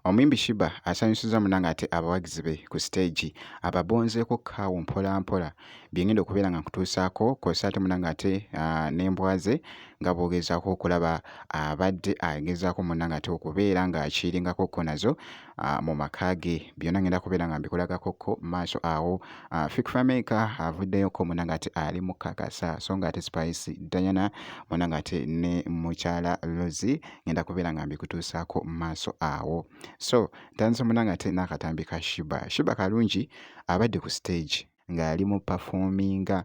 Omuyimbi Shiba asanyusizza munange ate abawagizi be ku siteegi ababonzeeko kaawo mpola mpola bye ngenda okubeera nga nkutuusaako kw'ossa ate munange ate ah, n'embwa ze nga bw'ogezaako okulaba abadde agezaako munange ate okubeera ng'akiringako ko nazo uh, mu maka ge byonna ngenda kubeera nga mbikulagako ko maaso awo uh, fik fameka avuddeyoko muna nga ate ali mukakasa so nga ate spice diana muna nga ate ne mukyala lozi ngenda kubeera nga mbikutuusaako maaso awo so ntandise muna nga ate n'akatambi ka shiba shiba kalungi abadde ku stage ng'ali mu performinga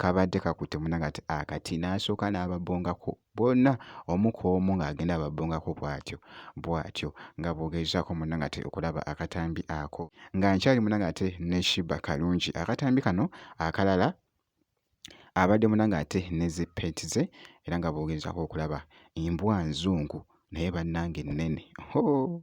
kabadde kakutte munange ati akati ah, n'asooka n'ababongako bonna omu ku omu ng'agenda ababongako bw'atyo bw'atyo nga bw'ogezaako munange ate okulaba akatambi ako nga nkyali munange ate ne shiba kalungi akatambi kano akalala abadde munange ate ne zippeti ze era nga bw'ogezaako okulaba embwa nzungu naye bannange nnene hoo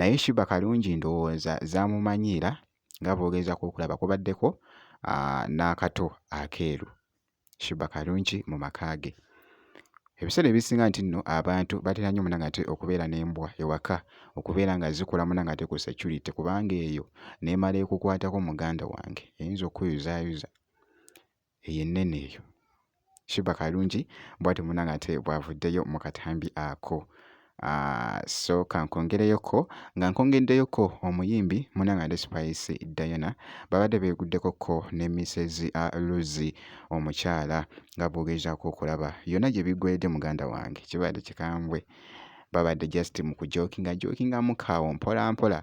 naye Shiba Kalungi ndowooza zaamumanyiira nga bw'ogezaako okulaba kubaddeko n'akato akeeru Shiba Kalungi mu maka ge. Ebiseera ebisinga nti nno abantu batera nnyo munangate okubeera n'embwa ewaka okubeera nga zikola munangate ku security kubanga eyo n'emala ekukwatako muganda wange eyinza okukuyozayoza. eyo ennene eyo Shuba Kalungi bwati munanga ate bwavuddeyo mu katambi ako ah, so kankongereyoko nga nkongeddeyoko omuyimbi munanga ate Spice Diana babadde beeguddeko ko ne Mrs ah, Luzi omukyala nga bwogezaako okulaba yonna gye bigwedde muganda wange kibadde kikambwe babadde just mu kujokinga jokingamu kaawo mpola mpola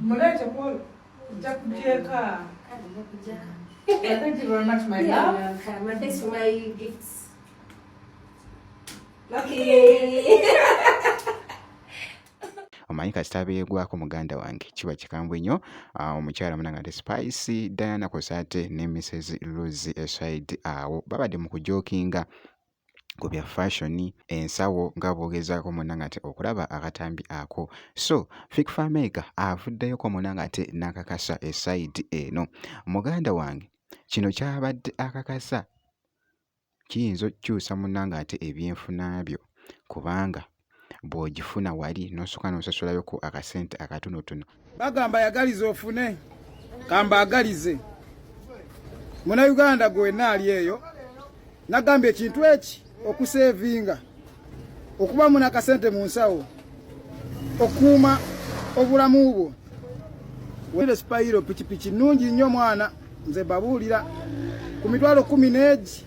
Mulete kwolo. Njakujeka. Kadi njakujeka. Thank you very much, my love. Yeah, welcome. And thanks for my gifts. Okay. omanyi kasita beegwako muganda wange kiba kikambwe nnyo ah, omukyala munanga ate spice diana kosate ne mrs luzi eside awo babadde mu kujokinga ku bya fashion ensawo nga bwogezaako muna nga te okulaba akatambi ako so fik famega avuddeyoko muna nga te nakakasa esaidi eno muganda wange kino kyabadde akakasa kiyinza okukyusa muna nga ate ebyenfuna byo kubanga bw'ogifuna wali n'osooka n'osasulawoko akasente akatonotono. Bagamba yagaliza ofune kamba agalize muna Uganda gwe wenna ali eyo nagamba ekintu eki okuseevinga okuba muna akasente mu nsawo okuuma obulamu bwo wele sipayiro pikipiki nnungi nnyo mwana nze babuulira ku mitwalo kumi n'egi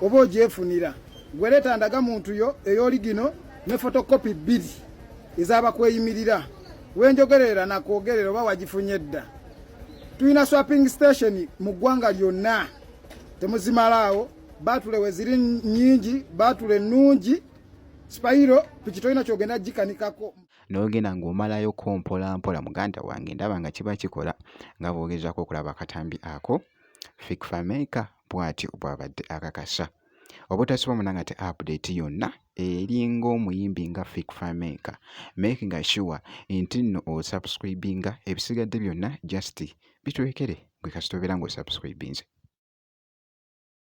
oba ogyefunira gwe leeta ndaga muntu yo eyoligino ne fotokopi bbiri ezabakweyimirira wenjogerera nakwogerera oba wagifunye dda tulina swapping station mu ggwanga lyonna temuzimalaawo batule weziri nyingi batule nungi sipayiro piki tolina kyogenda gikanikako n'ogenda ng'omalayo ko mpola mpola muganda wange ndaba nga kiba kikola nga bwogezako okulaba akatambi ako fikfameka bwati bwabadde akakasa obutasiba muna nga te update yonna eringa omuyimbi nga fik famaker make nga sure nti nno osubscribinga ebisigadde byonna just bitwekere gwe kasita obeera nga osubscribinze